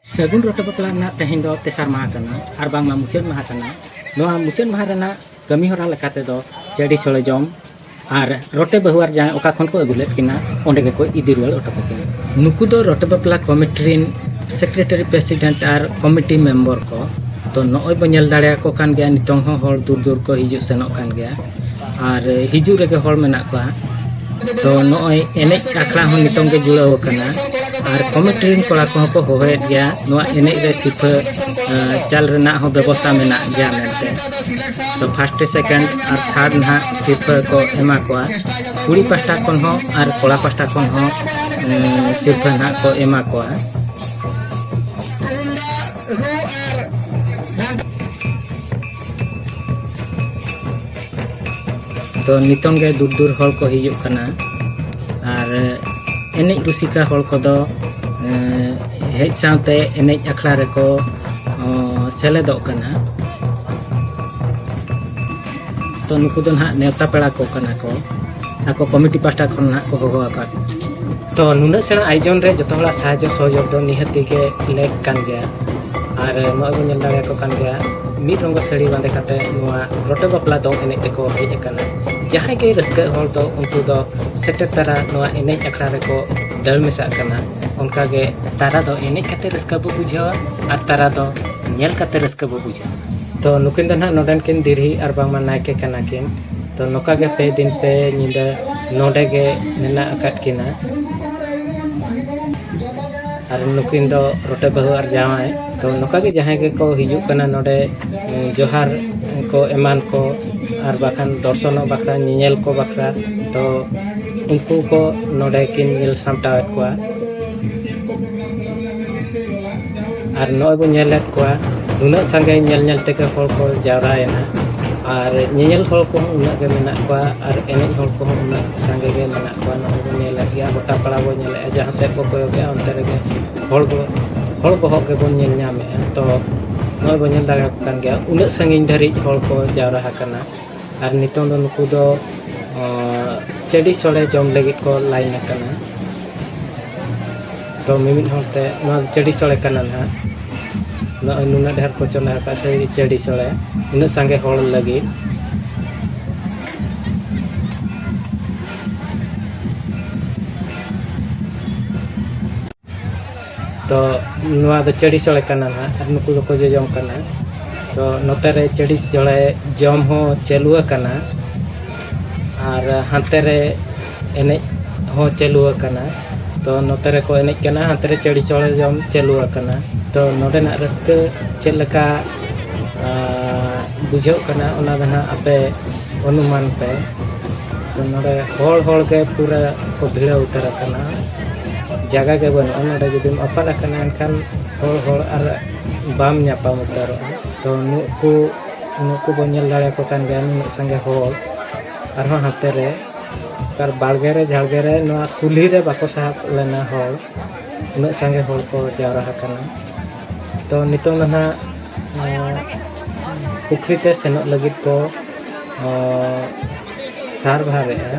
ᱥᱟᱹᱜᱩᱱ ᱨᱚᱴᱮ ᱵᱟᱯᱞᱟ ᱨᱮᱱᱟᱜ ᱛᱮᱦᱮᱧ ᱫᱚ ᱛᱮᱥᱟᱨ ᱢᱟᱦᱟ ᱠᱟᱱᱟ ᱟᱨ ᱵᱟᱝᱢᱟ ᱢᱩᱪᱟᱹᱫ ᱢᱟᱦᱟ ᱠᱟᱱᱟ ᱱᱚᱣᱟ ᱢᱩᱪᱟᱹᱫ ᱢᱟᱦᱟ ᱨᱮᱱᱟᱜ ᱠᱟᱹᱢᱤ ᱦᱚᱨᱟ ᱞᱮᱠᱟ ᱛᱮᱫᱚ ᱪᱟᱹᱰᱤ ᱥᱚᱲᱮ ᱡᱚᱢ ᱟᱨ ᱨᱚᱴᱮ ᱵᱟᱹᱦᱩ ᱟᱨ ᱡᱟᱶᱟᱭ ᱚᱠᱟ ᱠᱷᱚᱱ ᱠᱚ ᱟᱹᱜᱩ ᱞᱮᱫ ᱠᱤᱱᱟ ᱚᱸᱰᱮ ᱜᱮᱠᱚ ᱤᱫᱤ ᱨᱩᱣᱟᱹᱲ ᱦᱚᱴᱚ ᱠᱟᱹᱠᱤᱱᱟ ᱱᱩᱠᱩ ᱫᱚ ᱨᱚᱴᱮ ᱵᱟᱯᱞᱟ ᱠᱚᱢᱤᱴᱤ ᱨᱮᱱ ᱥᱮᱠᱨᱮᱴᱟᱨᱤ ᱯᱨᱮᱥᱤᱰᱮᱱᱴ ᱟᱨ ᱠᱚᱢᱤᱴᱤ ᱢᱮᱢᱵᱚᱨ ᱠᱚ ᱛᱚ ᱱᱚᱜᱼᱚᱭ ᱵᱚᱱ ᱧᱮᱞ ᱫᱟᱲᱮᱭᱟᱠᱚ ᱠᱟᱱ ᱜᱮᱭᱟ ᱱᱤᱛᱚᱝ ᱦᱚᱸ ᱦᱚᱲ ᱫᱩᱨ ᱫᱩᱨ ᱠᱚ ᱦᱤᱡᱩᱜ ᱥᱮᱱᱚᱜ ᱠᱟᱱ ᱜᱮᱭᱟ ᱟᱨ ᱦᱤᱡᱩᱜ ᱨᱮᱜᱮ ᱦᱚᱲ ᱢᱮᱱᱟᱜ ᱠᱚᱣᱟ ᱛᱚ ᱱᱚᱜᱼᱚᱭ ᱮᱱᱮᱡ ᱟᱠᱷᱲᱟ ᱦᱚᱸ ᱱᱤᱛᱚᱝ ᱜᱮ ᱡᱩᱲᱟᱹᱣ ᱟᱠᱟᱱᱟ ᱟᱨ ᱠᱚᱢᱤᱴᱤ ᱨᱮᱱ ᱠᱚᱲᱟ ᱠᱚᱦᱚᱸ ᱠᱚ ᱦᱚᱦᱚᱭᱮᱫ ᱜᱮᱭᱟ ᱱᱚᱣᱟ ᱮᱱᱮᱡ ᱨᱮ ᱥᱤᱨᱯᱷᱟᱹ ᱪᱟᱞ ᱨᱮᱱᱟᱜ ᱦᱚᱸ ᱵᱮᱵᱚᱥᱛᱷᱟ ᱢᱮᱱᱟᱜ ᱜᱮᱭᱟ ᱢᱮᱱᱛᱮ ᱛᱚ ᱯᱷᱟᱥᱴ ᱥᱮᱠᱮᱱᱰ ᱟᱨ ᱛᱷᱟᱨᱰ ᱱᱟᱦᱟᱜ ᱥᱤᱨᱯᱷᱟᱹ ᱠᱚ ᱮᱢᱟ ᱠᱚᱣᱟ ᱠᱩᱲᱤ ᱯᱟᱥᱴᱟ ᱠᱷᱚᱱ ᱦᱚᱸ ᱟᱨ ᱠᱚᱲᱟ ᱯᱟᱥᱴᱟ ᱠᱷᱚᱱ ᱦᱚᱸ ᱥᱤᱨᱯᱷᱟᱹ ᱱᱟᱦᱟᱜ ᱠᱚ ᱮᱢᱟ ᱠᱚᱣᱟ ᱛᱚ ᱱᱤᱛᱚᱝ ᱜᱮ ᱫᱩᱨ ᱫᱩᱨ ᱦᱚᱲ ᱠᱚ ᱦᱤᱡᱩᱜ ᱠᱟᱱᱟ ᱟᱨ ᱮᱱᱮᱡ ᱨᱩᱥᱤᱠᱟ ᱦᱚᱲ ᱠᱚᱫᱚ ᱦᱮᱡ ᱥᱟᱶᱛᱮ ᱮᱱᱮᱡ ᱟᱠᱷᱲᱟ ᱨᱮᱠᱚ ᱥᱮᱞᱮᱫᱚᱜ ᱠᱟᱱᱟ ᱛᱚ ᱱᱩᱠᱩ ᱫᱚ ᱱᱟᱦᱟᱜ ᱱᱮᱣᱛᱟ ᱯᱮᱲᱟ ᱠᱚ ᱠᱟᱱᱟ ᱠᱚ ᱟᱠᱚ ᱠᱚᱢᱤᱴᱤ ᱯᱟᱥᱴᱟ ᱠᱷᱚᱱ ᱱᱟᱦᱟᱜ ᱠᱚ ᱦᱚᱦᱚ ᱟᱠᱟᱫ ᱛᱚ ᱱᱩᱱᱟᱹᱜ ᱥᱮᱬᱟ ᱟᱭᱳᱡᱚᱱ ᱨᱮ ᱡᱚᱛᱚ ᱦᱚᱲᱟᱜ ᱥᱟᱦᱟᱡᱽᱡᱚ ᱥᱚᱦᱚᱡᱳᱜᱽ ᱫᱚ ᱱᱤᱦᱟᱹᱛᱤ ᱜᱮ ᱞᱮᱠ ᱠᱟᱱ ᱜᱮᱭᱟ ᱟᱨ ᱱᱚᱣᱟ ᱵᱚᱱ ᱧᱮᱞ ᱫᱟᱲᱮᱭᱟᱠᱚ ᱠᱟᱱ ᱜᱮᱭᱟ ᱢᱤᱫ ᱨᱚᱝᱜᱚ ᱥᱟᱹᱲᱤ ᱵᱟᱸᱫᱮ ᱠᱟᱛᱮ ᱱᱚᱣᱟ ᱨᱚᱴᱮ ᱵᱟᱯᱞᱟ ᱫᱚᱝ ᱮᱱᱮᱡ ᱛᱮᱠᱚ ᱦᱮᱡ ᱟᱠᱟᱱᱟ ᱡᱟᱦᱟᱸᱭ ᱜᱮ ᱨᱟᱹᱥᱠᱟᱹ ᱦᱚᱲ ᱫᱚ ᱩᱱᱠᱩ ᱫᱚ ᱥᱮᱴᱮᱨ ᱛᱟᱨᱟ ᱱᱚᱣᱟ ᱮᱱᱮᱡ ᱟᱠᱷᱲᱟ ᱨᱮᱠᱚ ᱫᱟᱹᱲ ᱢᱮᱥᱟᱜ ᱠᱟᱱᱟ ᱚᱱᱠᱟ ᱜᱮ ᱛᱟᱨᱟ ᱫᱚ ᱮᱱᱮᱡ ᱠᱟᱛᱮ ᱨᱟᱹᱥᱠᱟᱹ ᱵᱚ ᱵᱩᱡᱷᱟᱹᱣᱟ ᱟᱨ ᱛᱟᱨᱟ ᱫᱚ ᱧᱮᱞ ᱠᱟᱛᱮ ᱨᱟᱹᱥᱠᱟᱹ ᱵᱚ ᱵᱩᱡᱷᱟᱹᱣᱟ ᱛᱚ ᱱᱩᱠᱤᱱ ᱫᱚ ᱱᱟᱦᱟᱜ ᱱᱚᱰᱮᱱ ᱠᱤᱱ ᱫᱤᱨᱦᱤ ᱟᱨ ᱵᱟᱝᱢᱟ ᱱᱟᱭᱠᱮ ᱠᱟᱱᱟ ᱠᱤᱱ ᱛᱚ ᱱᱚᱝᱠᱟ ᱜᱮ ᱯᱮ ᱫᱤᱱ ᱯᱮ ᱧᱤᱫᱟᱹ ᱱᱚᱰᱮ ᱜᱮ ᱢᱮᱱᱟᱜ ᱟᱠᱟᱫ ᱠᱤᱱᱟ ᱟᱨ ᱱᱩᱠᱤᱱ ᱫᱚ ᱨᱚᱴᱮ ᱵᱟᱹᱦᱩ ᱟᱨ ᱡᱟᱶᱟᱭ ᱛᱚ ᱱᱚᱝᱠᱟ ᱜᱮ ᱡᱟᱦᱟᱸᱭ ᱜᱮᱠᱚ ᱦᱤᱡᱩᱜ ᱠᱟᱱᱟ ᱱᱚᱰᱮ ᱡᱚᱦᱟᱨ ᱠᱚ ᱮᱢᱟᱱ ᱠᱚ ᱟᱨ ᱵᱟᱠᱷᱟᱱ ᱫᱚᱨᱥᱚᱱᱚᱜ ᱵᱟᱠᱷᱨᱟ ᱧᱮᱧᱮᱞ ᱠᱚ ᱵᱟᱠᱷᱨᱟ ᱛᱚ ᱩᱱᱠᱩ ᱠᱚ ᱱᱚᱰᱮ ᱠᱤᱱ ᱧᱮᱞ ᱥᱟᱢᱴᱟᱣᱮᱫ ᱠᱚᱣᱟ ᱟᱨ ᱱᱚᱜᱼᱚᱭ ᱵᱚᱱ ᱧᱮᱞᱮᱫ ᱠᱚᱣᱟ ᱩᱱᱟᱹᱜ ᱥᱟᱸᱜᱮ ᱧᱮᱞ ᱧᱮᱞ ᱛᱮᱜᱮ ᱦᱚᱲ ᱠᱚ ᱡᱟᱣᱨᱟᱭᱮᱱᱟ ᱟᱨ ᱧᱮᱧᱮᱞ ᱦᱚᱲ ᱠᱚᱦᱚᱸ ᱩᱱᱟᱹᱜ ᱜᱮ ᱢᱮᱱᱟᱜ ᱠᱚᱣᱟ ᱟᱨ ᱮᱱᱮᱡ ᱦᱚᱲ ᱠᱚᱦᱚᱸ ᱩᱱᱟᱹᱜ ᱥᱟᱸᱜᱮ ᱜᱮ ᱢᱮᱱᱟᱜ ᱠᱚᱣᱟ ᱱᱚᱜᱼᱚᱭ ᱵᱚᱱ ᱧᱮᱞᱮᱫ ᱜᱮᱭᱟ ᱜᱚᱴᱟ ᱯᱟᱲᱟ ᱵᱚᱱ ᱧᱮᱞᱮᱫᱼᱟ ᱡᱟᱦᱟᱸ ᱥᱮᱫ ᱵᱚᱱ ᱠᱚᱭᱚᱜᱮᱜᱼᱟ ᱚᱱᱛᱮ ᱨᱮᱜᱮ ᱦᱚᱲ ᱵᱚ ᱦᱚᱲ ᱵᱚᱦᱚᱜ ᱜᱮᱵᱚᱱ ᱧᱮᱞ ᱧᱟᱢᱮᱜᱼᱟ ᱛᱚ ᱱᱚᱜᱼᱚᱭ ᱵᱚᱱ ᱧᱮᱞ ᱫᱟᱲᱮᱭᱟᱠᱚ ᱠᱟᱱ ᱜᱮᱭᱟ ᱩᱱᱟᱹᱜ ᱥᱟᱺᱜᱤᱧ ᱫᱷᱟᱹᱨᱤᱡ ᱦᱚᱲ ᱠᱚ ᱡᱟᱣᱨᱟ ᱟᱠᱟᱱᱟ ᱟᱨ ᱱᱤᱛᱚᱝ ᱫᱚ ᱱᱩᱠᱩ ᱫᱚ ᱪᱟᱹᱰᱤ ᱥᱚᱲᱮ ᱡᱚᱢ ᱞᱟᱹᱜᱤᱫ ᱠᱚ ᱞᱟᱭᱤᱱ ᱟᱠᱟᱱᱟ ᱛᱚ ᱢᱤᱢᱤᱫ ᱦᱚᱲ ᱛᱮ ᱱᱚᱣᱟ ᱪᱟᱹᱰᱤ ᱥᱚᱲᱮ ᱠᱟᱱᱟ ᱱᱟᱦᱟᱜ ᱱᱚᱜᱼᱚᱭ ᱱᱩᱱᱟᱹᱜ ᱰᱷᱮᱨ ᱠᱚ ᱪᱚᱸᱫᱟ ᱟᱠᱟᱫ ᱥᱮ ᱪᱟᱹᱰᱤ ᱥᱚᱲᱮ ᱩᱱᱟᱹᱜ ᱥᱟᱸᱜᱮ ᱦᱚᱲ ᱞᱟᱹᱜᱤᱫ ᱛᱚ ᱱᱚᱣᱟ ᱫᱚ ᱪᱟᱹᱲᱤ ᱥᱚᱲᱮ ᱠᱟᱱᱟ ᱱᱟᱦᱟᱜ ᱟᱨ ᱱᱩᱠᱩ ᱫᱚᱠᱚ ᱡᱚᱡᱚᱢ ᱠᱟᱱᱟ ᱛᱚ ᱱᱚᱛᱮ ᱨᱮ ᱪᱟᱹᱲᱤ ᱥᱚᱲᱮ ᱡᱚᱢ ᱦᱚᱸ ᱪᱟᱹᱞᱩ ᱟᱠᱟᱱᱟ ᱟᱨ ᱦᱟᱱᱛᱮ ᱨᱮ ᱮᱱᱮᱡ ᱦᱚᱸ ᱪᱟᱹᱞᱩ ᱟᱠᱟᱱᱟ ᱛᱚ ᱱᱚᱛᱮ ᱨᱮᱠᱚ ᱮᱱᱮᱡ ᱠᱟᱱᱟ ᱦᱟᱱᱛᱮ ᱨᱮ ᱪᱟᱹᱲᱤ ᱥᱚᱲᱮ ᱡᱚᱢ ᱪᱟᱹᱞᱩ ᱟᱠᱟᱱᱟ ᱛᱚ ᱱᱚᱰᱮᱱᱟᱜ ᱨᱟᱹᱥᱠᱟᱹ ᱪᱮᱫ ᱞᱮᱠᱟ ᱵᱩᱡᱷᱟᱹᱜ ᱠᱟᱱᱟ ᱚᱱᱟ ᱫᱚ ᱱᱟᱦᱟᱜ ᱟᱯᱮ ᱚᱱᱩᱢᱟᱱ ᱯᱮ ᱛᱚ ᱱᱚᱰᱮ ᱦᱚᱲ ᱦᱚᱲ ᱜᱮ ᱯᱩᱨᱟᱹ ᱠᱚ ᱵᱷᱤᱲᱟᱹᱣ ᱩᱛᱟᱹᱨ ᱟᱠᱟᱱᱟ ᱡᱟᱭᱜᱟ ᱜᱮ ᱵᱟᱹᱱᱩᱜᱼᱟ ᱱᱚᱰᱮ ᱡᱩᱫᱤᱢ ᱟᱯᱟᱫ ᱟᱠᱟᱱᱟ ᱮᱱᱠᱷᱟᱱ ᱦᱚᱲ ᱦᱚᱲ ᱟᱨ ᱵᱟᱢ ᱧᱟᱯᱟᱢ ᱩᱛᱟᱹᱨᱚᱜᱼᱟ ᱛᱚ ᱱᱩᱠᱩ ᱱᱩᱠᱩ ᱵᱚᱱ ᱧᱮᱞ ᱫᱟᱲᱮᱭᱟᱠᱚ ᱠᱟᱱ ᱜᱮᱭᱟ ᱱᱩᱱᱟᱹᱜ ᱥᱟᱸᱜᱮ ᱦᱚᱲ ᱟᱨᱦᱚᱸ ᱦᱟᱱᱛᱮ ᱨᱮ ᱟᱨ ᱵᱟᱲᱜᱮ ᱨᱮ ᱡᱷᱟᱲᱜᱮ ᱨᱮ ᱱᱚᱣᱟ ᱠᱩᱞᱦᱤ ᱨᱮ ᱵᱟᱠᱚ ᱥᱟᱦᱚᱵ ᱞᱮᱱᱟ ᱦᱚᱲ ᱩᱱᱟᱹᱜ ᱥᱟᱸᱜᱮ ᱦᱚᱲ ᱠᱚ ᱡᱟᱣᱨᱟ ᱟᱠᱟᱱᱟ ᱛᱚ ᱱᱤᱛᱚᱝ ᱫᱚ ᱱᱟᱦᱟᱜ ᱯᱩᱠᱷᱨᱤ ᱛᱮ ᱥᱮᱱᱚᱜ ᱞᱟᱹᱜᱤᱫ ᱠᱚ ᱥᱟᱨᱵᱷᱟᱨᱮᱜᱼᱟ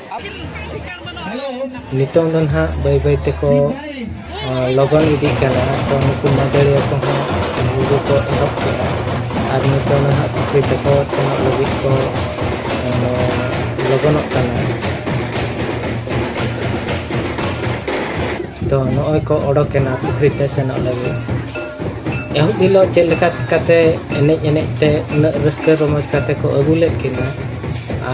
ᱱᱤᱛᱚᱝ ᱫᱚ ᱱᱟᱦᱟᱜ ᱵᱟᱹᱭ ᱵᱟᱹᱭ ᱛᱮᱠᱚ ᱞᱚᱜᱚᱱ ᱤᱫᱤᱜ ᱠᱟᱱᱟ ᱛᱚ ᱱᱩᱠᱩ ᱢᱟᱹᱫᱟᱹᱲᱤᱭᱟᱹ ᱠᱚᱦᱚᱸ ᱨᱩ ᱫᱚᱠᱚ ᱮᱦᱚᱵ ᱠᱮᱫᱟ ᱟᱨ ᱱᱤᱛᱚᱝ ᱱᱟᱦᱟᱜ ᱯᱩᱠᱷᱨᱤ ᱛᱮᱠᱚ ᱥᱮᱱᱚᱜ ᱞᱟᱹᱜᱤᱫ ᱠᱚ ᱞᱚᱜᱚᱱᱚᱜ ᱠᱟᱱᱟ ᱛᱚ ᱱᱚᱜᱼᱚᱭ ᱠᱚ ᱚᱰᱚᱠᱮᱱᱟ ᱯᱩᱠᱷᱨᱤ ᱛᱮ ᱥᱮᱱᱚᱜ ᱞᱟᱹᱜᱤᱫ ᱮᱦᱚᱵ ᱦᱤᱞᱳᱜ ᱪᱮᱫ ᱞᱮᱠᱟ ᱠᱟᱛᱮᱫ ᱮᱱᱮᱡ ᱮᱱᱮᱡ ᱛᱮ ᱩᱱᱟᱹᱜ ᱨᱟᱹᱥᱠᱟᱹ ᱨᱚᱢᱚᱡᱽ ᱠᱟᱛᱮᱫ ᱠᱚ ᱟᱹᱜᱩ ᱞᱮᱫ ᱠᱤᱱᱟᱹ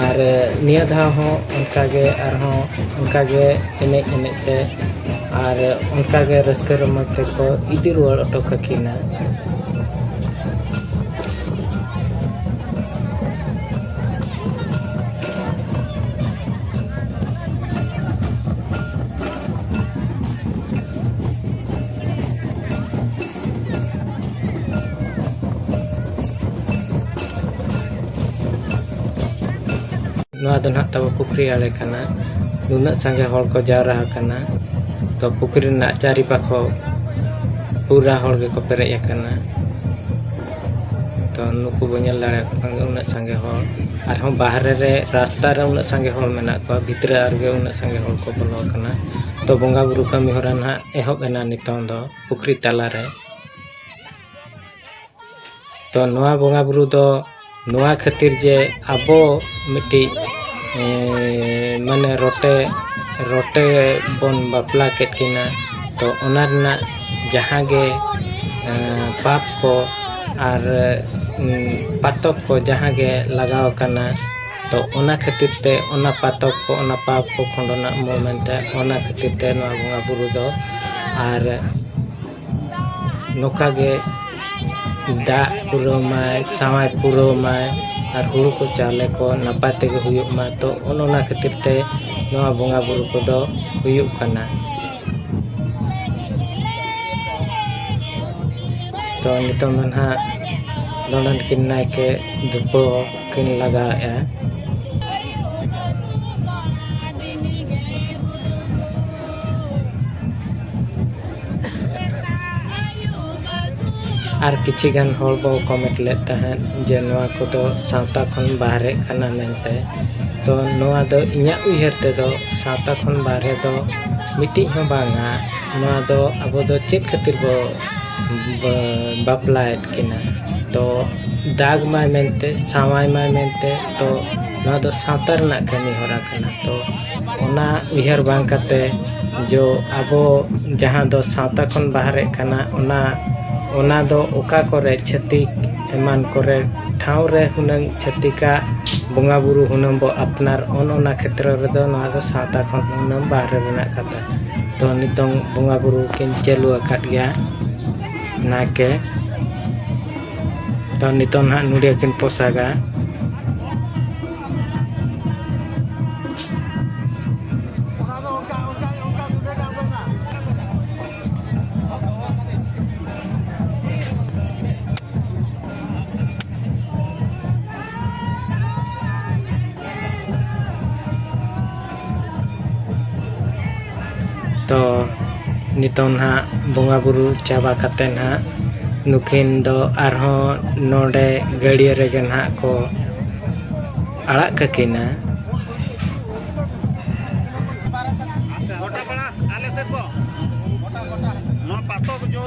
ᱟᱨ ᱱᱤᱭᱟᱹ ᱫᱷᱟᱣ ᱦᱚᱸ ᱚᱱᱠᱟ ᱜᱮ ᱟᱨᱦᱚᱸ ᱚᱱᱠᱟ ᱜᱮ ᱮᱱᱮᱡ ᱮᱱᱮᱡ ᱛᱮ ᱟᱨ ᱚᱱᱠᱟ ᱜᱮ ᱨᱟᱹᱥᱠᱟᱹ ᱨᱚᱢᱚᱡᱽ ᱛᱮᱠᱚ ᱤᱫᱤ ᱨᱩᱣᱟᱹᱲ ᱦᱚᱴᱚ ᱠᱟᱹᱠᱤᱱᱟ ᱱᱚᱣᱟ ᱫᱚ ᱱᱟᱦᱟᱜ ᱛᱟᱵᱚ ᱯᱩᱠᱷᱨᱤ ᱟᱲᱮ ᱠᱟᱱᱟ ᱱᱩᱱᱟᱹᱜ ᱥᱟᱸᱜᱮ ᱦᱚᱲ ᱠᱚ ᱡᱟᱣᱨᱟ ᱟᱠᱟᱱᱟ ᱛᱚ ᱯᱩᱠᱷᱨᱤ ᱨᱮᱱᱟᱜ ᱪᱟᱹᱨᱤ ᱯᱟᱠᱷᱚ ᱯᱩᱨᱟ ᱦᱚᱲ ᱜᱮᱠᱚ ᱯᱮᱨᱮᱡ ᱟᱠᱟᱱᱟ ᱛᱚ ᱱᱩᱠᱩ ᱵᱚ ᱧᱮᱞ ᱫᱟᱲᱮᱭᱟᱠᱚ ᱠᱟᱱ ᱜᱮᱭᱟ ᱩᱱᱟᱹᱜ ᱥᱟᱸᱜᱮ ᱦᱚᱲ ᱟᱨᱦᱚᱸ ᱵᱟᱦᱨᱮ ᱨᱮ ᱨᱟᱥᱛᱟ ᱨᱮ ᱩᱱᱟᱹᱜ ᱥᱟᱸᱜᱮ ᱦᱚᱲ ᱢᱮᱱᱟᱜ ᱠᱚᱣᱟ ᱵᱷᱤᱛᱨᱤ ᱨᱮᱜᱮ ᱩᱱᱟᱹᱜ ᱥᱟᱸᱜᱮ ᱦᱚᱲ ᱠᱚ ᱵᱚᱞᱚ ᱟᱠᱟᱱᱟ ᱛᱚ ᱵᱚᱸᱜᱟ ᱵᱩᱨᱩ ᱠᱟᱹᱢᱤ ᱦᱚᱨᱟ ᱱᱟᱦᱟᱜ ᱮᱦᱚᱵ ᱮᱱᱟ ᱱᱤᱛᱚᱝ ᱫᱚ ᱯᱩᱠᱷᱨᱤ ᱛᱟᱞᱟ ᱨᱮ ᱛᱚ ᱱᱚᱣᱟ ᱵᱚᱸᱜᱟ ᱵᱩᱨᱩ ᱫᱚ ᱱᱚᱣᱟ ᱠᱷᱟᱹᱛᱤᱨ ᱡᱮ ᱟᱵᱚ ᱢᱤᱫᱴᱤᱡ ᱢᱟᱱᱮ ᱨᱚᱴᱮ ᱨᱚᱴᱮ ᱵᱚᱱ ᱵᱟᱯᱞᱟ ᱠᱮᱫ ᱠᱤᱱᱟ ᱛᱚ ᱚᱱᱟ ᱨᱮᱱᱟᱜ ᱡᱟᱦᱟᱸ ᱜᱮ ᱯᱟᱯ ᱠᱚ ᱟᱨ ᱯᱟᱛᱚᱠ ᱠᱚ ᱡᱟᱦᱟᱸ ᱜᱮ ᱞᱟᱜᱟᱣ ᱠᱟᱱᱟ ᱛᱚ ᱚᱱᱟ ᱠᱷᱟᱹᱛᱤᱨ ᱛᱮ ᱚᱱᱟ ᱯᱟᱛᱚᱠ ᱠᱚ ᱚᱱᱟ ᱯᱟᱯ ᱠᱚ ᱠᱷᱚᱸᱰᱚᱱᱟᱜ ᱢᱩ ᱢᱮᱱᱛᱮ ᱚᱱᱟ ᱠᱷᱟᱹᱛᱤᱨ ᱛᱮ ᱱᱚᱣᱟ ᱵᱚᱸᱜᱟ ᱵᱩᱨᱩ ᱫᱚ ᱟᱨ ᱱᱚᱝᱠᱟ ᱜᱮ ᱫᱟᱜ ᱯᱩᱨᱟᱹᱣ ᱢᱟᱭ ᱥᱟᱶᱟᱭ ᱯᱩᱨᱟᱹᱣ ᱢᱟᱭ ᱟᱨ ᱦᱩᱲᱩ ᱠᱚ ᱪᱟᱣᱞᱮ ᱠᱚ ᱱᱟᱯᱟᱭ ᱛᱮᱜᱮ ᱦᱩᱭᱩᱜ ᱢᱟ ᱛᱚ ᱚᱱ ᱚᱱᱟ ᱠᱷᱟᱹᱛᱤᱨ ᱛᱮ ᱱᱚᱣᱟ ᱵᱚᱸᱜᱟ ᱵᱩᱨᱩ ᱠᱚᱫᱚ ᱦᱩᱭᱩᱜ ᱠᱟᱱᱟ ᱛᱚ ᱱᱤᱛᱚᱝ ᱫᱚ ᱱᱟᱦᱟᱜ ᱫᱚᱱᱰᱚ ᱠᱤᱱ ᱱᱟᱭᱠᱮ ᱫᱷᱩᱯᱟᱹᱣ ᱠᱤᱱ ᱞᱟᱜᱟᱣᱮᱫᱼᱟ ᱟᱨ ᱠᱤᱪᱷᱤ ᱜᱟᱱ ᱦᱚᱲ ᱠᱚ ᱠᱚᱢᱮᱱᱴ ᱞᱮᱫ ᱛᱟᱦᱮᱸᱫ ᱡᱮ ᱱᱚᱣᱟ ᱠᱚᱫᱚ ᱥᱟᱶᱛᱟ ᱠᱷᱚᱱ ᱵᱟᱦᱨᱮ ᱠᱟᱱᱟ ᱢᱮᱱᱛᱮ ᱛᱚ ᱱᱚᱣᱟ ᱫᱚ ᱤᱧᱟᱹᱜ ᱩᱭᱦᱟᱹᱨ ᱛᱮᱫᱚ ᱥᱟᱶᱛᱟ ᱠᱷᱚᱱ ᱵᱟᱦᱨᱮ ᱫᱚ ᱢᱤᱫᱴᱤᱡ ᱦᱚᱸ ᱵᱟᱝᱟ ᱱᱚᱣᱟ ᱫᱚ ᱟᱵᱚ ᱫᱚ ᱪᱮᱫ ᱠᱷᱟᱹᱛᱤᱨ ᱵᱚ ᱵᱟᱯᱞᱟᱭᱮᱫ ᱠᱤᱱᱟ ᱛᱚ ᱫᱟᱜᱽ ᱢᱟᱭ ᱢᱮᱱᱛᱮ ᱥᱟᱶᱟᱭ ᱢᱟᱭ ᱢᱮᱱᱛᱮ ᱛᱚ ᱱᱚᱣᱟ ᱫᱚ ᱥᱟᱶᱛᱟ ᱨᱮᱱᱟᱜ ᱠᱟᱹᱢᱤ ᱦᱚᱨᱟ ᱠᱟᱱᱟ ᱛᱚ ᱚᱱᱟ ᱩᱭᱦᱟᱹᱨ ᱵᱟᱝ ᱠᱟᱛᱮ ᱡᱚ ᱟᱵᱚ ᱡᱟᱦᱟᱸ ᱫᱚ ᱥᱟᱶᱛᱟ ᱠᱷᱚᱱ ᱵᱟᱦᱨᱮ ᱠᱟᱱᱟ ᱚᱱᱟ ᱚᱱᱟ ᱫᱚ ᱚᱠᱟ ᱠᱚᱨᱮ ᱪᱷᱟᱹᱛᱤᱠ ᱮᱢᱟᱱ ᱠᱚᱨᱮ ᱴᱷᱟᱶ ᱨᱮ ᱦᱩᱱᱟᱹᱝ ᱪᱷᱟᱹᱛᱤᱠᱟᱜ ᱵᱚᱸᱜᱟ ᱵᱳᱨᱳ ᱦᱩᱱᱟᱹᱝ ᱵᱚ ᱟᱯᱱᱟᱨ ᱚᱱ ᱚᱱᱟ ᱠᱷᱮᱛᱨᱚ ᱨᱮᱫᱚ ᱱᱚᱣᱟ ᱫᱚ ᱥᱟᱶᱛᱟ ᱠᱷᱚᱱ ᱦᱩᱱᱟᱹᱝ ᱵᱟᱦᱨᱮ ᱨᱮᱱᱟᱜ ᱠᱟᱛᱷᱟ ᱠᱟᱱᱟ ᱛᱚ ᱱᱤᱛᱚᱝ ᱵᱚᱸᱜᱟ ᱵᱩᱨᱩ ᱠᱤᱱ ᱪᱟᱹᱞᱩ ᱟᱠᱟᱫ ᱜᱮᱭᱟ ᱱᱟᱭᱠᱮ ᱛᱚ ᱱᱤᱛᱚᱝ ᱱᱟᱦᱟᱜ ᱱᱩᱰᱤᱭᱟᱹ ᱠᱤᱱ ᱯᱚᱥᱟᱜᱟ ᱛᱚ ᱱᱤᱛᱚᱝ ᱱᱟᱦᱟᱜ ᱵᱚᱸᱜᱟ ᱵᱩᱨᱩ ᱪᱟᱵᱟ ᱠᱟᱛᱮᱫ ᱱᱟᱦᱟᱜ ᱱᱩᱠᱤᱱ ᱫᱚ ᱟᱨᱦᱚᱸ ᱱᱚᱰᱮ ᱜᱟᱹᱲᱭᱟᱹ ᱨᱮᱜᱮ ᱱᱟᱦᱟᱜ ᱠᱚ ᱟᱲᱟᱜ ᱠᱟᱹᱠᱤᱱᱟ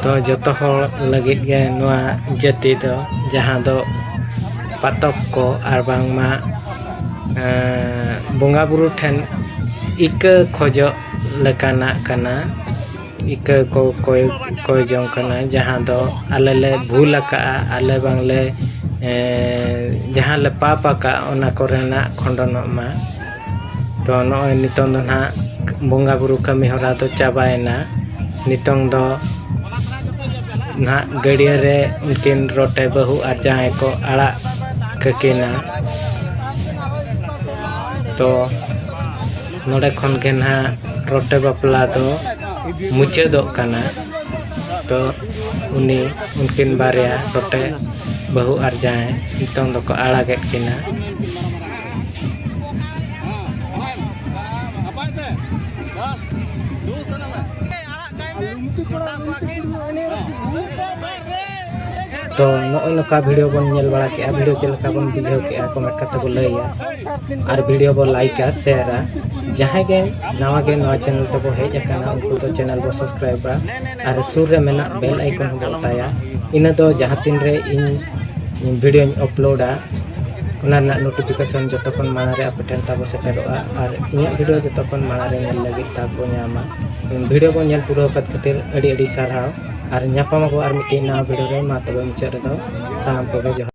ᱛᱚ ᱡᱚᱛᱚ ᱦᱚᱲ ᱞᱟᱹᱜᱤᱫ ᱜᱮ ᱱᱚᱣᱟ ᱡᱟᱹᱛᱤ ᱫᱚ ᱡᱟᱦᱟᱸ ᱫᱚ ᱯᱟᱛᱚᱠ ᱠᱚ ᱟᱨ ᱵᱟᱝᱢᱟ ᱵᱚᱸᱜᱟ ᱵᱩᱨᱩ ᱴᱷᱮᱱ ᱤᱠᱟᱹ ᱠᱷᱚᱡᱚᱜ ᱞᱮᱠᱟᱱᱟᱜ ᱠᱟᱱᱟ ᱤᱠᱟᱹ ᱠᱚ ᱠᱚᱭ ᱠᱚᱭ ᱡᱚᱝ ᱠᱟᱱᱟ ᱡᱟᱦᱟᱸ ᱫᱚ ᱟᱞᱮ ᱞᱮ ᱵᱷᱩᱞ ᱟᱠᱟᱫᱼᱟ ᱟᱞᱮ ᱵᱟᱝ ᱞᱮ ᱡᱟᱦᱟᱸ ᱞᱮ ᱯᱟᱯ ᱟᱠᱟᱫᱼᱟ ᱚᱱᱟ ᱠᱚᱨᱮᱱᱟᱜ ᱠᱷᱚᱸᱰᱚᱱᱚᱜ ᱢᱟ ᱛᱚ ᱱᱚᱜᱼᱚᱸᱭ ᱱᱤᱛᱚᱝ ᱫᱚ ᱱᱟᱦᱟᱜ ᱵᱚᱸᱜᱟ ᱵᱩᱨᱩ ᱠᱟᱹᱢᱤ ᱦᱚᱨᱟ ᱫᱚ ᱪᱟᱵᱟᱭᱮᱱᱟ ᱱᱤᱛᱚᱝ ᱫᱚ ᱱᱟᱦᱟᱜ ᱜᱟᱹᱰᱭᱟᱹ ᱨᱮ ᱩᱱᱠᱤᱱ ᱨᱚᱴᱮ ᱵᱟᱹᱦᱩ ᱟᱨ ᱡᱟᱶᱟᱭ ᱠᱚ ᱟᱲᱟᱜ ᱠᱟᱹᱠᱤᱱᱟ ᱛᱚ ᱱᱚᱰᱮ ᱠᱷᱚᱱ ᱜᱮ ᱱᱟᱦᱟᱜ ᱨᱚᱴᱮ ᱵᱟᱯᱞᱟ ᱫᱚ ᱢᱩᱪᱟᱹᱫᱚᱜ ᱠᱟᱱᱟ ᱛᱚ ᱩᱱᱤ ᱩᱱᱠᱤᱱ ᱵᱟᱨᱭᱟ ᱨᱚᱴᱮ ᱵᱟᱹᱦᱩ ᱟᱨ ᱡᱟᱶᱟᱭ ᱱᱤᱛᱚᱝ ᱫᱚᱠᱚ ᱟᱲᱟᱜᱮᱫ ᱠᱤᱱᱟ ᱛᱚ ᱱᱚᱜᱼᱚᱭ ᱱᱚᱝᱠᱟ ᱵᱷᱤᱰᱤᱭᱳ ᱵᱚᱱ ᱧᱮᱞ ᱵᱟᱲᱟ ᱠᱮᱜᱼᱟ ᱵᱷᱤᱰᱤᱭᱳ ᱪᱮᱫ ᱞᱮᱠᱟ ᱵᱚᱱ ᱵᱩᱡᱷᱟᱹᱣ ᱠᱮᱜᱼᱟ ᱠᱚᱢᱮᱱᱴ ᱠᱟᱛᱮ ᱵᱚᱱ ᱞᱟᱹᱭᱟ ᱟᱨ ᱵᱷᱤᱰᱤᱭᱳ ᱵᱚᱱ ᱞᱟᱭᱤᱠᱟ ᱥᱮᱭᱟᱨᱟ ᱡᱟᱦᱟᱸᱭ ᱜᱮ ᱱᱟᱣᱟ ᱜᱮ ᱱᱚᱣᱟ ᱪᱮᱱᱮᱞ ᱛᱮᱵᱚ ᱦᱮᱡ ᱟᱠᱟᱱᱟ ᱩᱱᱠᱩ ᱫᱚ ᱪᱮᱱᱮᱞ ᱵᱚ ᱥᱟᱵᱥᱠᱨᱟᱭᱤᱵᱟ ᱟᱨ ᱥᱩᱨ ᱨᱮ ᱢᱮᱱᱟᱜ ᱵᱮᱞ ᱟᱭᱠᱚᱱ ᱦᱚᱸ ᱵᱚ ᱚᱛᱟᱭᱟ ᱤᱱᱟᱹ ᱫᱚ ᱡᱟᱦᱟᱸ ᱛᱤᱱ ᱨᱮ ᱤᱧ ᱵᱷᱤᱰᱤᱭᱳᱧ ᱟᱯᱞᱳᱰᱟ ᱚᱱᱟ ᱨᱮᱱᱟᱜ ᱱᱳᱴᱤᱯᱷᱤᱠᱮᱥᱚᱱ ᱡᱚᱛᱚ ᱠᱷᱚᱱ ᱢᱟᱲᱟᱝ ᱨᱮ ᱟᱯᱮ ᱴᱷᱮᱱ ᱛᱟᱵᱚ ᱥᱮᱴᱮᱨᱚᱜᱼᱟ ᱟᱨ ᱤᱧᱟᱹᱜ ᱵᱷᱤᱰᱤᱭᱳ ᱡᱚᱛᱚ ᱠᱷᱚᱱ ᱢᱟᱲᱟᱝ ᱨᱮ ᱧᱮᱞ ᱞᱟᱹᱜᱤᱫ ᱛᱟᱵᱚ ᱧᱟᱢᱟ ᱵᱷᱤᱰᱤᱭᱳ ᱠᱚ ᱧᱮᱞ ᱯᱩᱨᱟᱹᱣ ᱠᱟᱛ ᱠᱷᱟᱹᱛᱤᱨ ᱟᱹᱰᱤ ᱟᱹᱰᱤ ᱥᱟᱨᱦᱟᱣ ᱟᱨ ᱧᱟᱯᱟᱢ ᱟᱵᱚ ᱟᱨ ᱢᱤᱫᱴᱤᱡ ᱱᱟᱣᱟ ᱵᱷᱤᱰᱤᱭᱳ ᱨᱮ ᱢᱟ ᱛᱚᱵᱮ ᱢᱩᱪᱟᱹᱫ ᱨᱮᱫᱚ ᱥᱟᱱᱟᱢ ᱠᱚᱜᱮ ᱡᱚᱦᱟᱨ